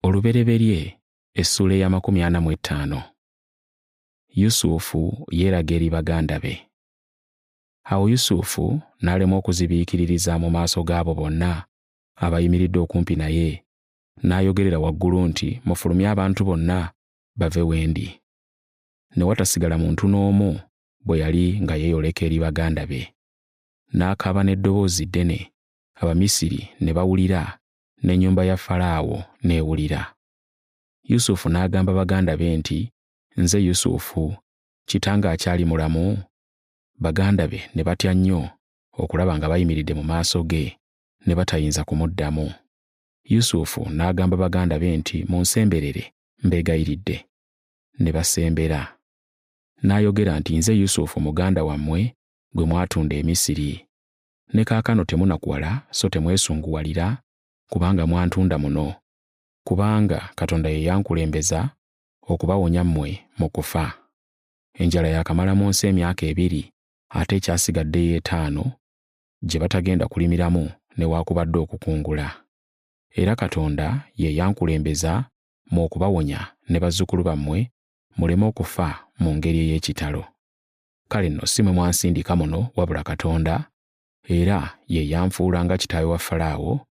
olubereberye essuula ey'amakumi ana mu ettaano yusufu yeeraga eri baganda be awo yusufu n'alema okuzibiikiririza mu maaso g'abo bonna abayimiridde okumpi naye n'ayogerera waggulu nti mufulumye abantu bonna bave wendi ne watasigala muntu n'omu bwe yali nga yeeyoleka eri baganda be n'akaaba n'eddoboozi ddene Abamisiri ne bawulira, n'ennyumba ya Falaawo n'ewulira. Yusufu n'agamba baganda be nti, Nze Yusufu, kitange akyali mulamu? Baganda be ne batya nnyo okulaba nga bayimiridde mu maaso ge, ne batayinza kumuddamu. Yusufu n'agamba baganda be nti, Munsemberere, mbeegayiridde. Ne basembera. N'ayogera nti, Nze Yusufu muganda wammwe gwe mwatunda e Misiri. ne kaakano temunakuwala so temwesunguwalira, kubanga mwantunda muno. Kubanga Katonda ye yankulembeza okubawonya mmwe mu kufa. Enjala yakamala mu nsi emyaka ebiri, ate ekyasigadde y'etaano gye batagenda kulimiramu newaakubadde okukungula. Era Katonda ye yankulembeza mu okubawonya ne bazzukulu bammwe muleme okufa mu ngeri ey'ekitalo. kale nno si mwe mwansindika muno wabula katonda era ye yanfuula nga kitaawe wa falaawo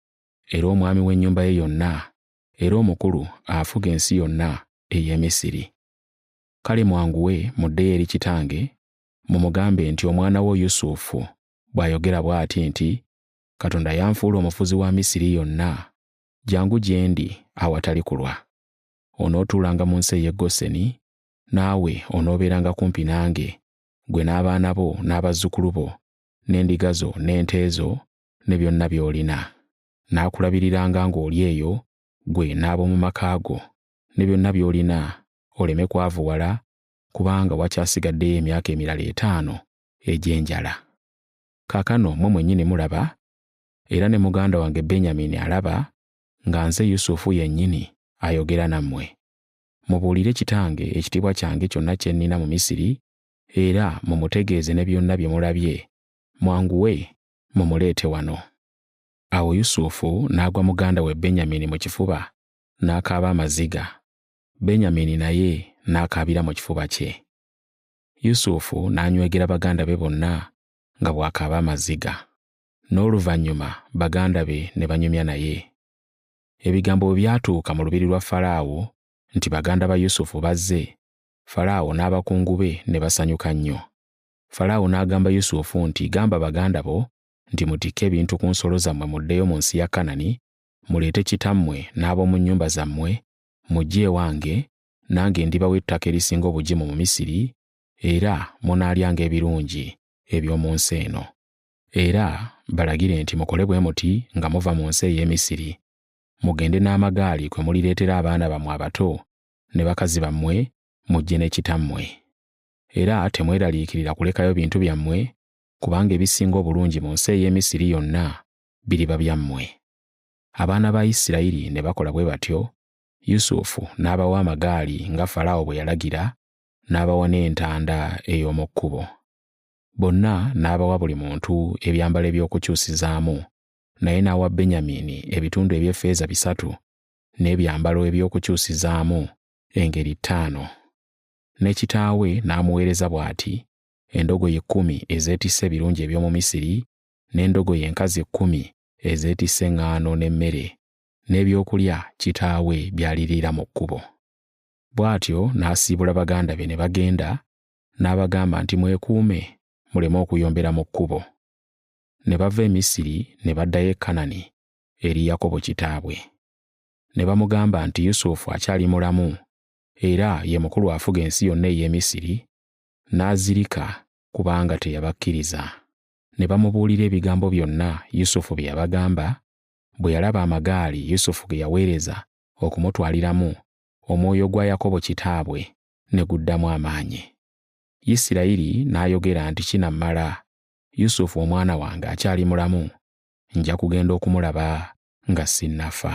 era omwami w'ennyumba ye yonna era omukulu afuga ensi yonna ey'e misiri kale mwanguwe muddeyo eri kitange mumugambe nti omwana wo yusufu bw'ayogera bw'ati nti katonda yanfuula omufuzi wa misiri yonna jangu gye ndi awatali kulwa onootuulanga mu nsi ey'e goseni naawe onoobeeranga kumpi nange, gwe n'abaana bo n'abazzukulu bo, n'endiga zo n'ente zo, ne byonna by'olina. Naakulabiriranga ng'oli eyo, gwe n'ab'omu maka go, ne byonna by'olina, oleme kwavuwala, kubanga wakyasigaddeyo emyaka emirala etaano egy'enjala. Kaakano mmwe mwennyini mulaba, era ne muganda wange Benyamini alaba, nga nze Yusufu yennyini ayogera nammwe. mubuulire kitange ekitiibwa kyange kyonna kye nnina mu Misiri, era mumutegeeze ne byonna bye mulabye, mwanguwe mumuleete wano. Awo Yusufu n'agwa muganda we Benyamini mu kifuba, n'akaaba amaziga. Benyamini naye n'akaabira mu kifuba kye. Yusufu n'anywegera baganda be bonna nga bw'akaaba amaziga. N'oluvannyuma baganda be ne banyumya naye. ebigambo bwe byatuuka mu lubiri lwa Falaawo nti baganda ba Yusufu bazze, Falaawo n'abakungu be ne basanyuka nnyo. Falaawo n'agamba Yusufu nti, Gamba baganda bo nti mutikke ebintu ku nsolo zammwe muddeyo mu nsi ya Kanani, muleete kitammwe n'ab'omu nnyumba zammwe, mujje ewange, nange ndibawa ettaka erisinga obugimu mu Misiri, era munaalyanga ebirungi eby'omu nsi eno. era balagire nti mukole bwe muti nga muva mu nsi ey'e Misiri, mugende n'amagaali kwe mulireetera abaana bammwe abato ne bakazi bammwe mujje ne kitammwe. Era temweraliikirira kulekayo bintu byammwe, kubanga ebisinga obulungi mu nsi ey'e Misiri yonna biriba byammwe. Abaana ba Isirayiri ne bakola bwe batyo, Yusufu n'abawa amagaali nga Falaawo bwe yalagira, n'abawa n'entanda ey'omu kkubo. bonna n'abawa buli muntu ebyambalo eby'okukyusizaamu, naye n'awa Benyamiini ebitundu eby'effeeza bisatu, n'ebyambalo eby'okukyusizaamu engeri ttaano. Ne kitaawe n'amuweereza bw'ati, endogoyi kkumi ezeetisse ebirungi eby'omu Misiri, n'endogoyi enkazi kkumi ezeetisse eŋŋaano n'emmere, n'ebyokulya kitaawe by'aliriira mu kkubo. Bw'atyo n'asiibula baganda be ne bagenda, n'abagamba nti mwekuume muleme okuyombera mu kkubo ne bava e misiri ne baddayo e kanani eri yakobo kitaabwe ne bamugamba nti yusufu akyali mulamu era ye mukulu afuga ensi yonna ey'e misiri n'azirika kubanga teyabakkiriza ne bamubuulira ebigambo byonna yusufu bye yabagamba bwe yalaba amagaali yusufu ge yaweereza okumutwaliramu omwoyo gwa yakobo kitaabwe ne guddamu amaanyi. Isirayiri n'ayogera nti kinammala, Yusufu omwana wange akyali mulamu, nja kugenda okumulaba nga sinnafa.